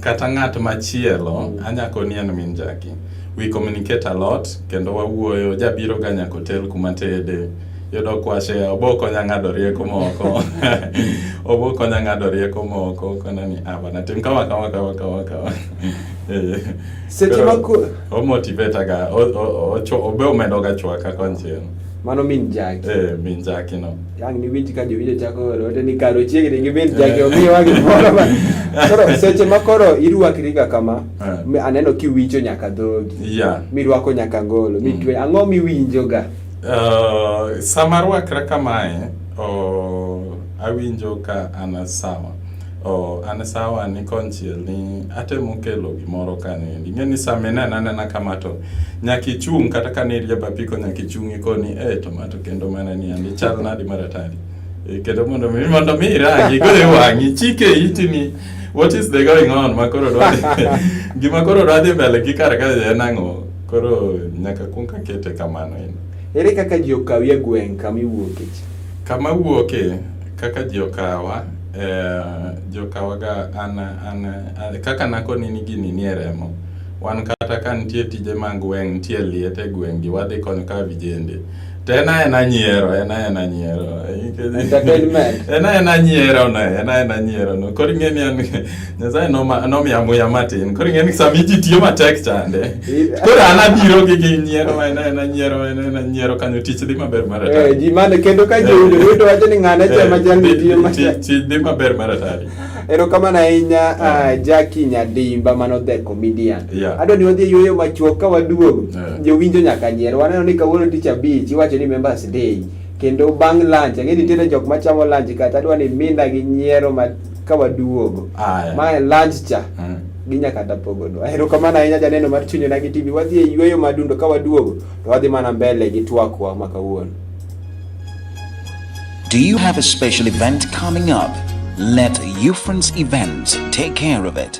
Kata ng'at machielo, mm. anyako ni en min Jackie. We communicate a lot, kendo wawuoyo, jabiro ga nyaka otel kuma tede. Yudo kwashe, obokonya ng'ado rieko moko. obokonya ng'ado rieko moko, kona ni, ah, bana, tim kama, kama, kama, kama, kama. Eh. Seche ma... Omotivate ga, obe omedo ga chwaka konchiel. Mano min jaki. Eh, min jaki no. Yang ni winji ka jowinjo chako oro te ni karo chiegni gi min jaki eh. omiyo wagi moro ma. Koro seche ma koro irwakri ga kama, eh. aneno kiwinjo nyaka dhogi. Yeah. Mirwako nyaka ngolo, mitwe. Mm. Ang'o miwinjo ga? Uh, sama rwakra kamae, oh, awinjo ka ana sawa. Oh, an sawa ni konchiel ni atemo kelo gimoro kanendi. Ing'e ni sama inena nena kama to nyaka ichung' kata ka ne irieba piko nyaka ichung' ikoni eh to mato kendo mana ni andi chal nadi maratari. E, kendo mondo mi mondo mi irangi kore wang'i chike iti ni what is the going on ma koro dwadhi gima koro dwadhi mbele gi kar ka en ang'o koro nyaka kuong kakete kamano en. Ere kaka ji okawi e gweng' kama iwuoke? Kama wuoke kaka ji okawa Eh, jokawaga an, an, an, kaka nakoni ni gini nie remo wan kata ka nitie tije mag gweng' nitie liet e gweng'gi wadhi kony ka vijende to en aena nyiero en aena nyiero en aena nyiero no en aena nyiero no koro ing'e ni an Nyasaye nomiya muya matin. Koro ing'e ni sama iji tiyo matek chande. Koro an abiro gi gi nyiero ma ena ena nyiero ena ena nyiero kanyo tich dhi maber mar atari. Eh, ji mane kendo ka ji oyudo yudo wacho ni ng'ane cha ma jalni eh, tiyo matek. Tich dhi maber mar atari. Erokamano ahinya eh. ah, Jackie Nyadimba mano the comedian. Adwa ni wadhi yueyo machuok ka waduogo. Jowinjo nyaka nyiero. Waneno ni kawuono tich abich iwacho ni members day. Kendo bang' lunch, ang'e nitiere jok machamo lunch kata adwa ni minda gi nyiero ma ka waduogo mae lunch cha mm. ginya kata pogodo ahero kamano ahinya janeno mar chunyo na gi tv wadhi e yueyo madundo ka waduogo to wadhi mana mbele gi twakwa ma kawuono Do you have a special event coming up? Let Ufrance Events take care of it.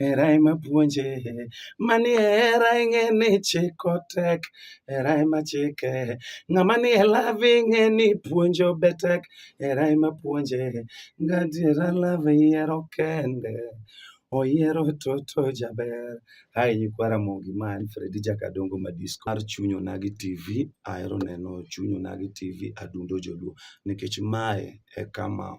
Hera ema puonje, mani hera ing'e ni chiko tek, hera ema chike. Ng'ama ni e love ing'e ni puonjo be tek, hera ema puonje. Gadiera love yiero kende, oyiero toto jaber. Hai nyikwa Ramogi ma en Fredi Jakadongo Madisco mar Chuny Onagi TV. Ahero neno Chuny Onagi TV adundo joluo nikech mae e kama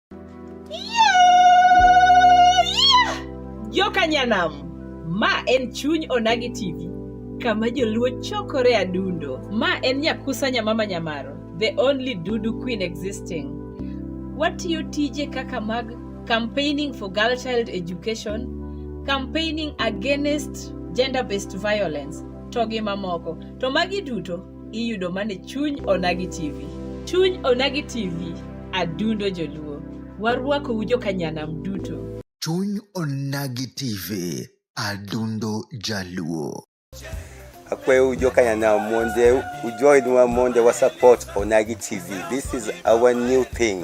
Yokanyanam, ma en chuny Onagi TV, kama joluo chokore adundo. Ma en Nyakusa Nyamama Nyamaro, the only Dudu Queen existing. Watiyo tije kaka mag campaigning for girl child education, campaigning against gender-based violence, to gi mamoko. To magi duto iyudo mane chuny onagi tv chuny onagi tv adundo joluo warwakou jokanyanam duto chuny onagi tv adundo jaluo akweu jokanyana monje ujoinwa monje wa support onagi tv this is our new thing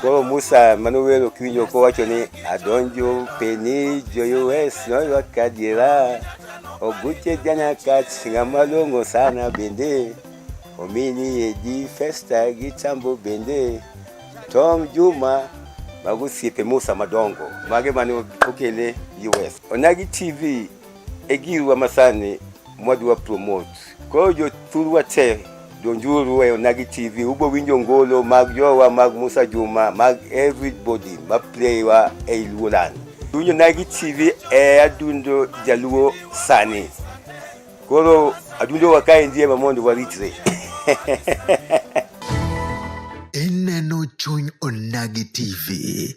Koro Musa Manuel Okinyo kowacho ni adonjo peni joyues noywa kadiera oguche jana kach ng'ama long'o sana bende omini edi festa gi tambo bende Tom Juma mago osiepe Musa madongo mage mane okele US. Onagi TV e girwa masani mwadwa promote. Koro jothurwa te donjuru e Onagi TV ubo winjo ngolo mag jowa mag Musa Juma mag everybody ma playwa e Luolan. Winjo Onagi TV e adundo jaluo sani. Koro adundo wakae ndiye ma mondo waritre. Ineno chuny Onagi TV.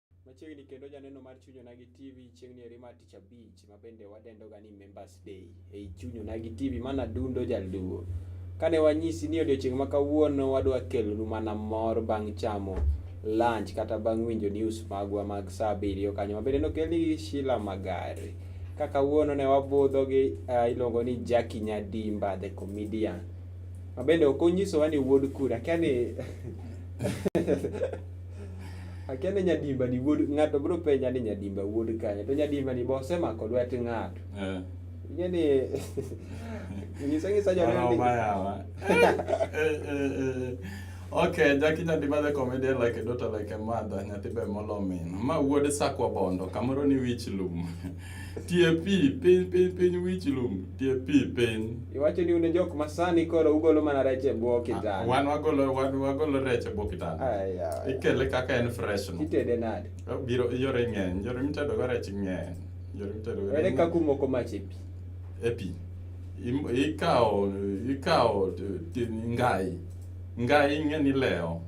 Machiegni kendo janeno mar Chuny Onagi TV chieng'ni eri mar tich abich ma bende wadendoga ni Members Day ei Chuny Onagi TV mana dundo jalduo. Kane wanyisi ni odiochieng' ma kawuono wadwa kelonu mana mor bang' chamo lunch kata bang' winjo news magwa mag saa abiriyo kanyo ma bende nokelni gi Sheila Magari. Ka kawuono ne wabudho gi uh, iluongo ni Jackie Nyadimba the comedian. Ma bende ok onyisowa ni wuod kura, akia ni Akia ni nyadimba ni wuod ng'ato biro penja ni nyadimba wuod kanye to nyadimba ni bose mako lwet ng'ato. Eh. Ing'e ni nyisa nyisa jo ni. Okay, Jackie nyadimba the comedian like a daughter like a mother nyathi be molo min. Ma wuod sakwa bondo kamoro ni wich lum. Tie pi piny piny piny wich lum tie pi piny. Iwacho ni une jok masani koro ugolo mana rech e bwo kitanda. Wan wagolo wan wagolo rech e bwo kitanda. Aya. Ikele kaka en fresh no. Itede nade? Biro yore ng'eny, yore mitedo go rech ng'eny. Yore mitedo go. Ere kaka umoko mach e pi? E pi. Im- Ikawo ikawo t- t- ngai. Ngai ing'e ni lewo.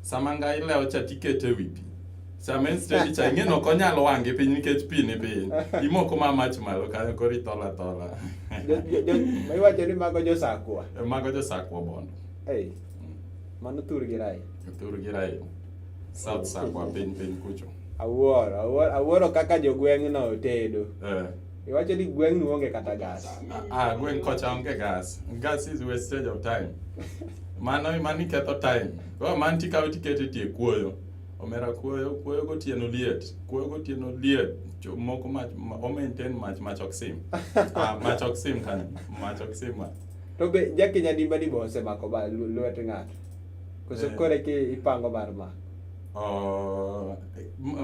Sama ngai lewo cha tikete e wi pi. Sama en steady cha ing'e nok onyal wang' gi piny nikech pi ni piny. Imoko ma mach malo kanyo koro ithola thola. Jo- jo- jo- ma iwacho ni mago josakwa Mago josakwa bondo. ei mano thur gi rai Thur gi rail. South sakwa piny piny kucho. awuoro awuoro- awuoro kaka jogweng'no otedo Eh. iwacho ni gweng'ni onge kata gas Ah, gweng' kocha onge gas. Gas is wastage of time. Mano mano iketho time. Koro man tikawo tikete tie kuoyo. Omera kuoyo, kuoyo gotieno liet, kuoyo gotieno liet. Moko mach, o maintain mach, mach ok sim. ah, mach ok sim kanyo, mach ok sim. To be jaki nyadimba ni bose mako ba lwet ng'ato. Koso eh. kore ki ipango mar ma. Oh,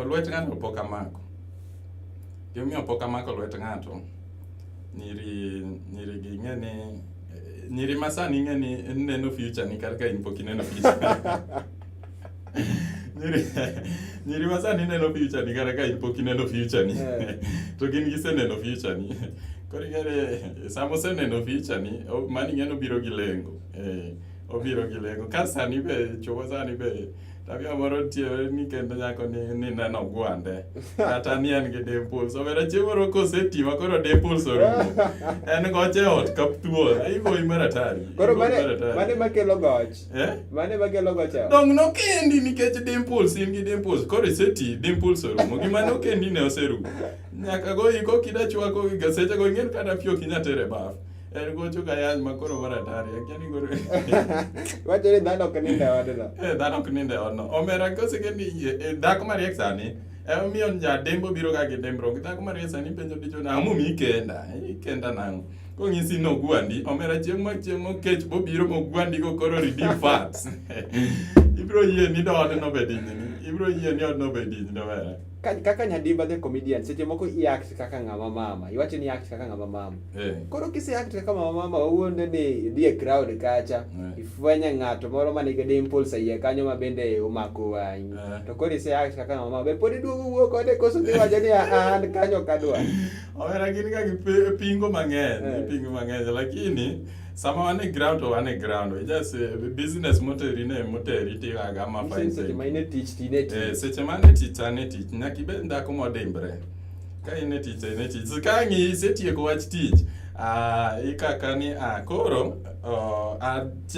lwet ng'ato pok amako. Gimiyo pok amako lwet ng'ato. Nyiri, nyiri gi ng'e ni eh, nyiri masani ng'e ni neno future ni kar ka in pok ineno future nyiri ma sani neno future ni kata ka in pok ineno future ni eh. to gin giseneno future ni koro ing'ere sama oseneno future ni mani ing'e nobiro gi lengo eh, obiro gi lengo ka sani be chuo sani be tabia moro tiere ni kendo nyako ni ni neno gwande kata ni en gi dimples obera chieng' moro koseti ma koro dimples orumo en goche ot kap thuol iboyi maratari koro mane makelo goch Eh? Mane bagelo go cha. Dong no kendi nikech dimples in gi dimples. Koro iseti dimples orumo. Gima no kendi ne oserumo. Nyaka go iko kida chwako gi gaseche go ingen kata pio kinya tere baf. En go chuka yany ma koro mara tari. Akiani go. Wacho ni dhano ok ninde odno. Eh dhano ok ninde odno. Omera kose kendi eh, eh, dhako ma riek sani. Emomiyo eh, ja dembo biro ga gi dembro. Dhako ma riek sani penjo dicho na amu mi kenda. Ikenda nango. kong'isi ni ogwandi omera chieng' ma chieng' mokech bobiro mogwandigo koro redeem fats ibiro yie ni doode nobed inyini ibiro yie ni odno obed inyi nobere Ka- kaka nyadimba the comedian seche moko i act kaka ng'ama mama iwacho ni i act kaka ng'ama mama Eh, koro kise act kaka mama mama wawuonde ni idhi e crowd kacha Eh. ifwenye ng'ato moro ma nigi dimples e iye kanyo ma bende omako wang'i Eh. to koro ise act kaka mama mama be pod iduogo wuo kode koso dhi wacho ni "Ah, an kanyo kadwa Omera gin ga gi pingo mang'eny, eh. pingo mang'eny lakini sama wan e ground to wan e ground we just uh, business moteri ne moteri tigaga ma fine seche ma in e tich ti ne tich eh, seche ma ne tich an e tich nyaka ibed dhako modimbre ka in e tich in e tich ka ng'i isetieko wach tich uh, ikaka ni uh, koro uh,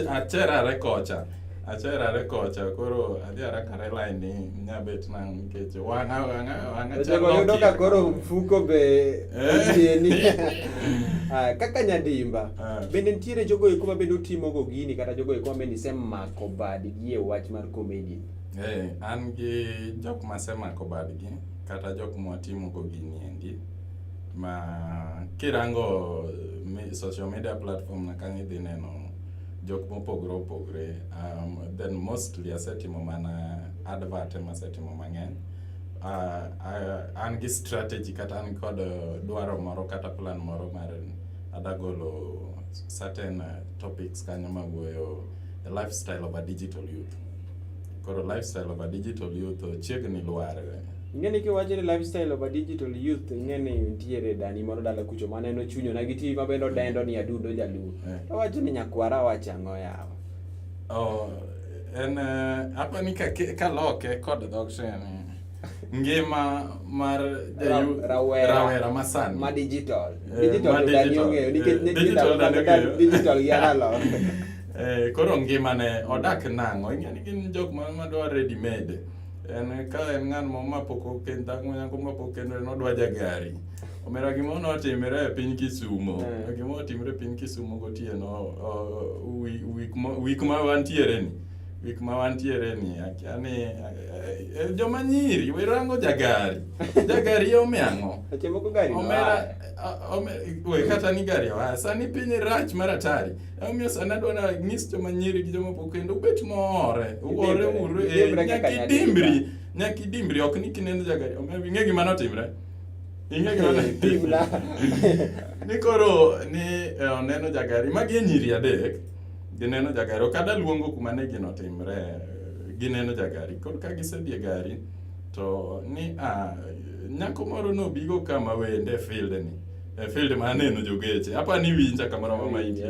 acherare kocha Acherare kocha koro adhi arakare line ni nyabet nang' nikech wang'a wang'a wang'a chalo Yudo ka koro mfuko be eh. tieni. Ah, kaka nyadimba ah. bende nitiere jogo eko ma bende utimogo gini kata jogo eko ma bende isemako badgi e wach mar komedi. Eh, an gi jok ma asemako badgi kata jok ma watimogo gini endi ma kirango social media platform na kanyo idhi neno jok mopogore opogore um, then mostly asetimo mana advert ema asetimo mang'eny uh, uh, an gi strategy kata an kod uh, dwaro moro kata plan moro mar adagolo certain uh, topics kanyo mawuoyo the lifestyle of a digital youth koro lifestyle of a digital youth chiegni lwar Ingeni kiwacho ni lifestyle of a digital youth ingeni nitiere dani moro dala kucho mane no chunyo na gi TV mabendo dendo ni adundo jaluo. Eh. To wacho ni nyakwara wacha ango yawa. Oh, en uh, apa ni ka ka loke kod dhok sene. Ngima mar jayu rawera, rawera masan. Ma digital. Eh, digital ma digital. Dani ongeyo nikech ne digital dani ongeyo. Digital ya dalo. Eh, koro ngima ne odak nango ingeni gin jok ma madwa ready made. en ka en ng'an mo ma pok oken dhako manyako ma pok okendo en odwa jagari omera gimoro notimre e piny kisumo eh. gimoro otimre e piny kisumo gotieno wik ma wantiere ni wik ma wantiere ni akiani eh, eh, joma nyiri wirango jagari jagari omiang'o omera we kata ni gari oa sani piny rach mar atari Omiyo sana adwa na nyis joma nyiri gi joma pok kendo ubet more. Uwore uru e nyaki dimbri. Nyaki dimbri ok ni kineno jagari. Omiyo ing'e gima notimre. Ing'e gima notimre. Ni koro ni e, oneno jagari magi e nyiri adek. Gineno jagari ok ada luongo kuma ne gino timre. Gineno jagari koro ka gisedhi e gari to ni a ah, nyako moro nobigo kama wende field ni. E eh, field ma aneno jogeche. Hapa ni winja kamoro ma ma inji.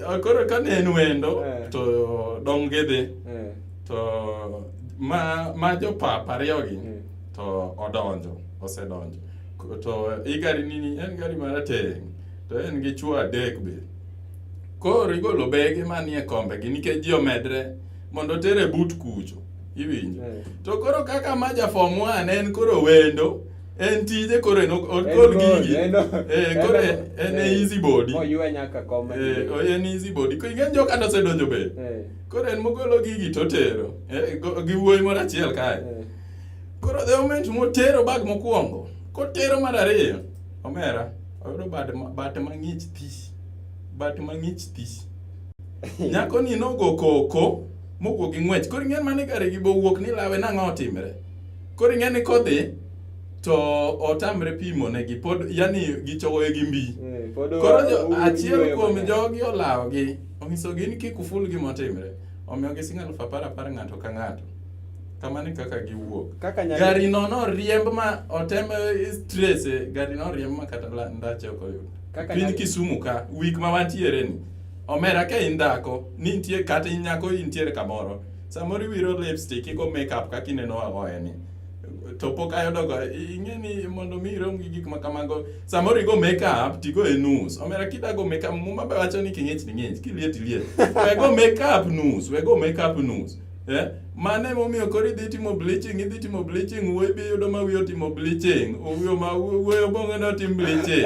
Akoro ka ne en wendo eh. to dong gidhi. Eh. To ma ma jo papa ariyo gi eh. to odonjo, osedonjo. To i gari nini en gari marateng' to en gi chwo adek be. Koro igolo bege manie kombe gi nikech ji omedre mondo otere but kucho. Iwinjo. To koro kaka ma ja form 1 en koro wendo. En tije koro en ok- En okol gol, gigi. en o- Eh, en koro o- en- en e eh, easy body. Oywe nyaka koma. Eh, o- en easy body. Ko ing'e joka nosedonjo be. Eh, Koro en mogolo gigi totero. Eh, go- gi wuoyi moro achiel kae. eh. Koro the moment motero bag mokwongo, kotero mar ariyo, omera, oyudo bad ma- bat mang'ich thi. Bat mang'ich thi. Nyako ni nogo koko mowuok gi ng'wech. Koro ing'e mane gari gi bowuok ni lawe nang'o otimre. Koro ing'e ni kodhi to otamre pimo negi pod yani gichogoye gi mbi Eh, pod koro oa- jo- oa- achiel oyueyo kuom mang'eny. jogi olawogi onyisogi ni kik uful gimotimre omiyo gising alufu apar apar ng'ato ka ng'ato kamano e kaka giwuok Kaka nyalo- gari no noriemb ma otem strese gari no oriemb ma kata la- ndache ok oyud Kaka piny nyalo- kisumu ka wik ma wantiere ni omera ka in dhako ni nitie kata in nyako intiere kamoro Samoro iwiro lipstick igo makeup kaka ineno agoye ni to pok ayudogo ing'e ni mondo mi irom gi gik ma kamago samoro igo makeup tigo e nus omera kidago makeup muma be wacho ni king'ich ni ng'ich kiliet iliet wego makeup nus wego makeup nus eh? mano emomiyo koro idhi timo bleaching idhi timo bleaching wuoyi bi yudo ma wiye otimo bleaching wuoyo bong'e ne otim bleaching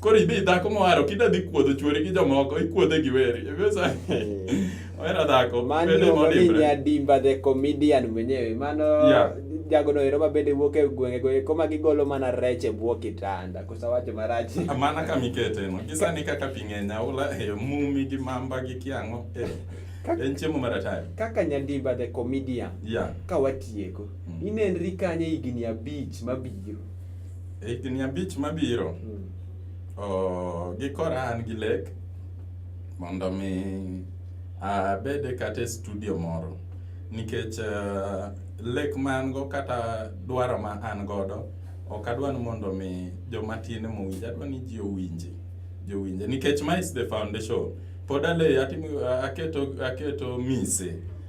koro idhi dhako moharo kida dhi kuodho chuori gi jomoko ikuodhe gi weri ohera eh. dhako mannyadimba the comedian mwenyewe mano yeah. jagono ero ma bende wuok e gwenge go eko ma gigolo mana rech e bwo kitanda kosa wacho marach ah, mana ka mikete no gisani kaka pi ng'eny aula e eh, mumi gi mamba gi kiang'o eh. en chiemo mar atari kaka nyandimba the comedian yeah. ka watieko mm. inenri kanye higni abich mabiro Higni abich mabiro, mm. oh, gikora an gi lek mondo mi abede kata e studio moro nikech uh, lek ma an go kata dwaro ma an godo ok adwa ni mondo mi joma tin mowinj adwa ni ji owinje ji owinje nikech ma is the foundation pod ale atimo aketo aketo mise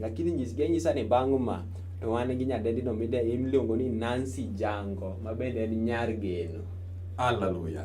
Lakini nyis gi anyisa ni bang' ma to wan gi nyadendino miluongo ni Nancy Jango ma bende en nyar geno. Haleluya.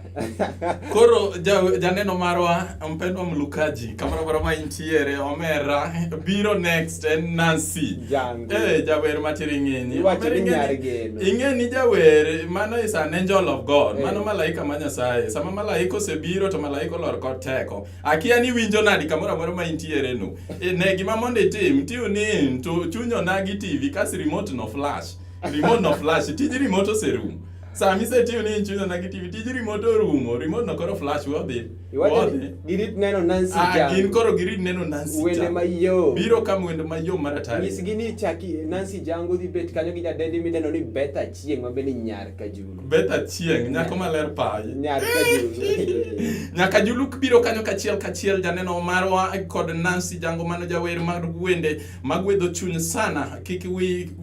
Koro janeno ja marwa mpendwa mlukaji kamoro moro ma intiere omera biro next en Nancy. Jango. Eh jawer matiri ng'enyi. Iwacho ni nyar geno. Ing'eni jawer mano is an angel of God. Hey. Eh. Mano malaika ma Nyasaye. Sama malaika osebiro to malaika olor kod teko. Akia ni winjo nadi kamoro amora ma intiere no. E, ne gima mondo itim, tiu ni to chunyo na gi TV kas remote no flash. Remote no flash, tij remote oserumo. Sami isetiyo ni inchuno na kitivi tij remote orumo remote no koro flash wadhi wadhi girit neno Nancy ah, Jam ah gin koro girit neno Nancy Jam wende mayo biro kam wende mayo mar atari nyisgi ni chaki Nancy Jam godhi bet kanyo gi jadendi mideno ni Betha Chieng' ma bende nyar ka juu bet achieng' nyako maler payi nyaka juluk biro kanyo kachiel kachiel janeno marwa kod nancy jango mano jawer mar wende magwedho chuny sana kik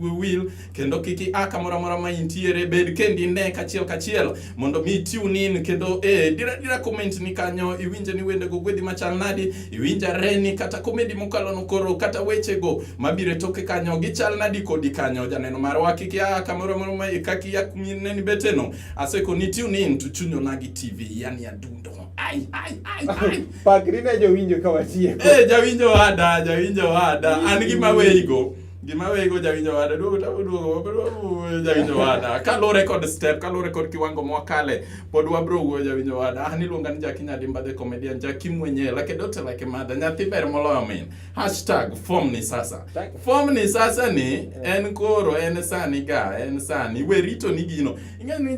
wil kendo kik ia kamoro amora ma intiere bed kendi ne kachiel kachiel mondo mi tune in kendo eh, dira dira comment ni kanyo iwinje ni wende go gwedhi machal nadi Iwinja reni kata komedi mokalo nokoro kata wechego mabiro e toke kanyo gichal nadi kodi kanyo janeno marwa kik ya kamoro moro ma kaki ya kumine ni beteno aseko ni tune in to chunyo nagi tv yani adundo ai ai ai ai pakri ne jowinjo kawachie eh jawinjo wada jawinjo wada an gi maweyigo gima wego jawinjo wada duogo to duogo jawinjo wada kaluwore kod step kaluwore kod kiwango mwakale pod wabro wuoyo jawinjo wada an iluonga ni jaki nyadimba the comedian jaki mwenyewe lake dote lake madha nyathi ber moloyo min hashtag form ni sasa form ni sasa ni en koro en sani ga en sani we rito ni gino ing'e ni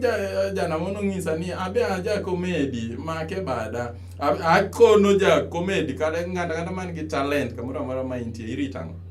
jana mono ng'isa ni abe aja komedi make bada akono ja komedi kata ng'ata ng'ata man gi talent kamoro amora ma intie irito ang'o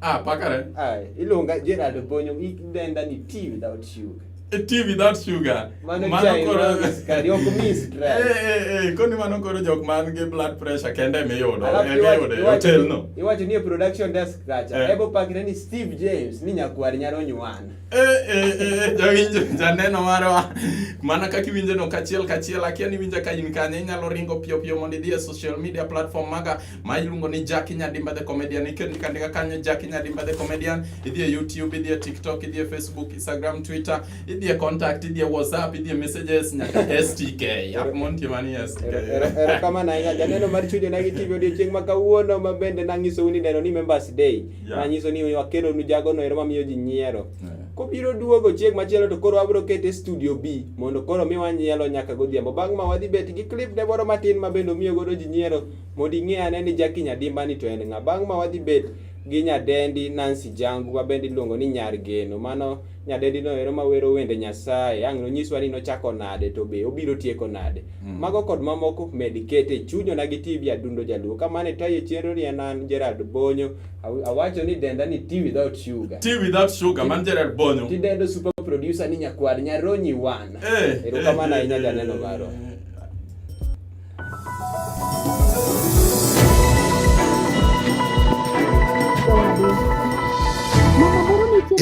Ah, pakare. Ah, iluonga Gerald Obonyo, i denda ni tea without sugar. A tea without sugar. Mano chai koro sukari ok mi stress. Eh eh eh, koni mano koro jok man gi blood pressure kende mi yudo. E mi yudo e hotel no. Iwacho ni e production desk kacha. Eh. Ebo pakre ni Steve James ni nyakwar nyalo nywana. Eh eh eh, jawinjo janeno marwa. Mana kaka iwinjo no kachiel kachiel akia ni winja ka in kanye inyalo ringo piyo piyo mondo idhi e social media platform maga ma iluongo ni Jackie Nyadimba the comedian ikendo ikandika kanyo Jackie Nyadimba the comedian idhi e YouTube idhi e TikTok idhi e Facebook Instagram Twitter idhi e contact idhi e WhatsApp idhi e messages nyaka STK app montie mani STK era kama na ina janeno mar chujo na gitibi odiochieng' ma kawuono ma bende nanyiso ni neno ni members day yeah. nanyiso ni wakelo nu jago no ero mamiyo ji nyiero yeah. kobiro duogo chieng' machielo to koro wabiro kete studio B mondo koro mi wanyielo nyaka godhiambo bang' ma wadhi bet gi clip ne moro matin ma bende omiyo godo ji nyiero Mondo ing'e ane ni Jackie Nyadimbani to en ng'a. Bang' ma wadhi bet gi nyadendi Nancy Jangu ma bende iluongo ni Nyar Geno. Mano nyadendi no ero mawero wende Nyasaye. Ang' nonyiswa ni nochako nade to be obiro tieko nade. Mm. Mago kod mamoko med kete chunyo na gi TV Adundo Jaluo. Kamane tayo chenro ni en an Gerald Bonyo. Awacho ni denda ni tea without sugar. Tea without sugar, man Gerald Bonyo. Ti dendo super producer ni nyakwar Nyaronyi Wan. Eh, Erokamana eh, ahinya eh, janeno marwa.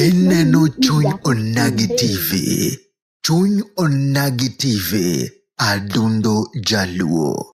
Ineno chuny onagi TV. Chuny onagi TV. Adundo Jaluo.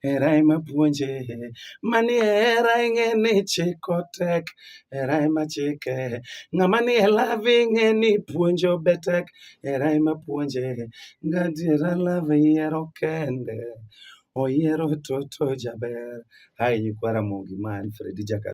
Hera ema puonje, mani hera ing'e ni chiko tek, hera ema chike. Ng'ama ni e love ing'e ni puonjo be tek, hera ema puonje. Gadiera love yiero kende, oyiero toto jaber. Hai nyikwa Ramogi ma Alfred Jaka.